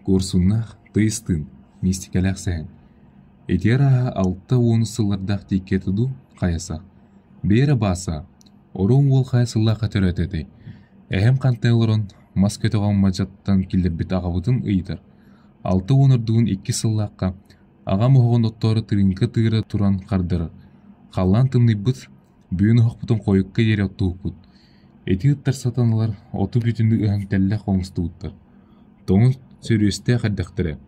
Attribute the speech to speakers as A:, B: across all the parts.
A: Куорсуннаах, тыйыс-тыын, миистикэлээх сэһэн. Итиэр ааһа алта уон сыллардаах диэкки этэ дуу, хайаса. Бээрэ Бааса, ороҥ уол хайа сыллаахха төрөөтө этэй? Эһэм хантан олорон мас көтөҕөн мадьаттан киллэрбит аҕабытын ыйытар. Алта уон ордугун иккис сыллаахха аҕам оһоҕун оттоору тырыыҥка тыыра туран хардарар. Халлаан тымныйбыт, Бүөн оһохпутун хойукка диэри оттуһукпут, ити ыттар сатан ылар оту бүтүннүү ыһан тэллэх оҥостубуттар. Тоҥус сөрүөстээх эрдэхтэрэ,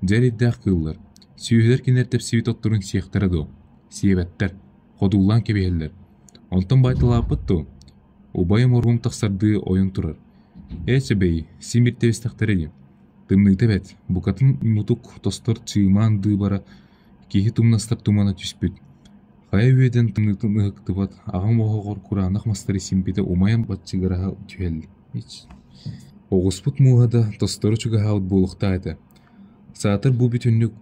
A: дьэ эрэйдээх кыыллар, сүөһүлэр кинилэр тэпсибит отторун сиэхтэрэ дуо, сиэбэттэр, ходуулаан кэбиһэллэр. Онтон байталааппыт дуо? Убайым оргум тахсардыы ойон турар. «Ээ сөбей, син бир тэбистэхтэрэ дии. Тымныыта эбэт, букатын мутук тостор чыымаан дыыбара Киһи тумнастар тумана түспүт, хайа үөдэн тымныытын ыһыктыбат, аҕам оһоҕор кураанах мастары симпитэ умайан баччыгыраһа түһэллич Оҕуспут мууһа да tosтору чугаһаабыт буолуохтаах этэ. Саатар бу бүтүннүк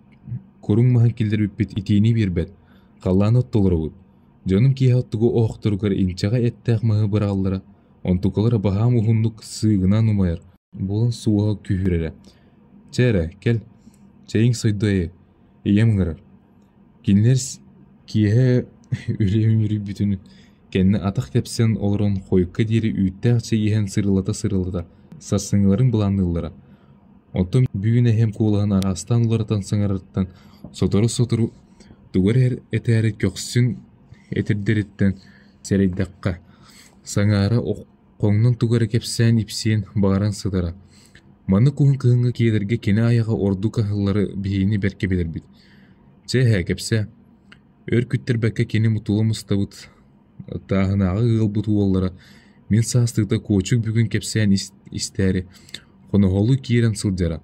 A: куруҥ маһын киллэрбиппит итиини биэрбэт, халлаан оттолоробут. Дьонум киэһэ оттугу оһохторугар инчэҕэй эттээх маһы быраҕаллара, онтукалара баһаам уһуннук сыыгынан умайар, Буолан суоһа күүһүрэрэ: «Чэ эрэ, кэл, чэйиҥ сойду эйэ, ийэм ыҥырар». Кинилэр киэһэ үлэм үөрүйбүтүн кэннэ атах тэпсэн олорон хойукка диэри үүттээх чэй иһэн сырылата-сырылата сарсыҥҥыларын былаанныыллара. Оттон бүгүн эһэм куолаһын араастаан уларытан саҥарарыттан сотору-сотору тугу эрэ этээри көхсүн этэрдэриттэн сэрэйдэххэ, саҥара Хоҥнон тугу эрэ кэпсээн ипсиэн баҕаран сытара. Маннык куһун кыһыҥҥы киэдэргэ кини айаҕа ордук аһыллары биһиини бэркэ билэрбит. Чэ эһээ кэпсээ. Өр күттэрбэккэ кини мутула мустабыт тааһынааҕы ыалбыт уоллара мин саастыыта куочук бүгүн кэпсээн истээри хоноһолу киирэн сылдьара.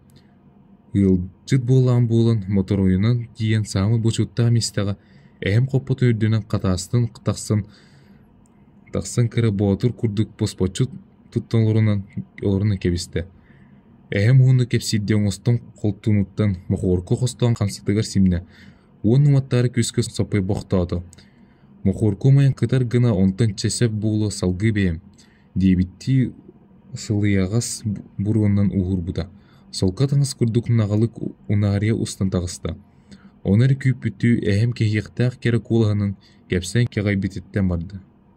A: Ыалдьыт буолаан буолан моторойунан тиийэн саамай бочуоттаах мистэҕэ эһэм хоппото үрдүнэн хатаастан тахсан Тахсан кэрэ боотур курдук босхоччу тутта олорон кэбистэ, эһэм уонна кэпсиирдии оҥостон холтуунуттан мохуорку хостоон хамсатыгар симнэ уонна уматтаары күүскэ соппойбохтоото: «Мохуорку умайан кытар гына онтон чэ сөп буолуо салгыы бэйэм» диэбиттии сылыйаҕас буруонан ууһурбута, солко таҥас курдук наҕылык унаарыйа устан таҕыста Оны эрэ күүппүттүү эһэм кэһиэхтээх кэрэ куолаһынан кэпсэн кэҕэйбититтэн барда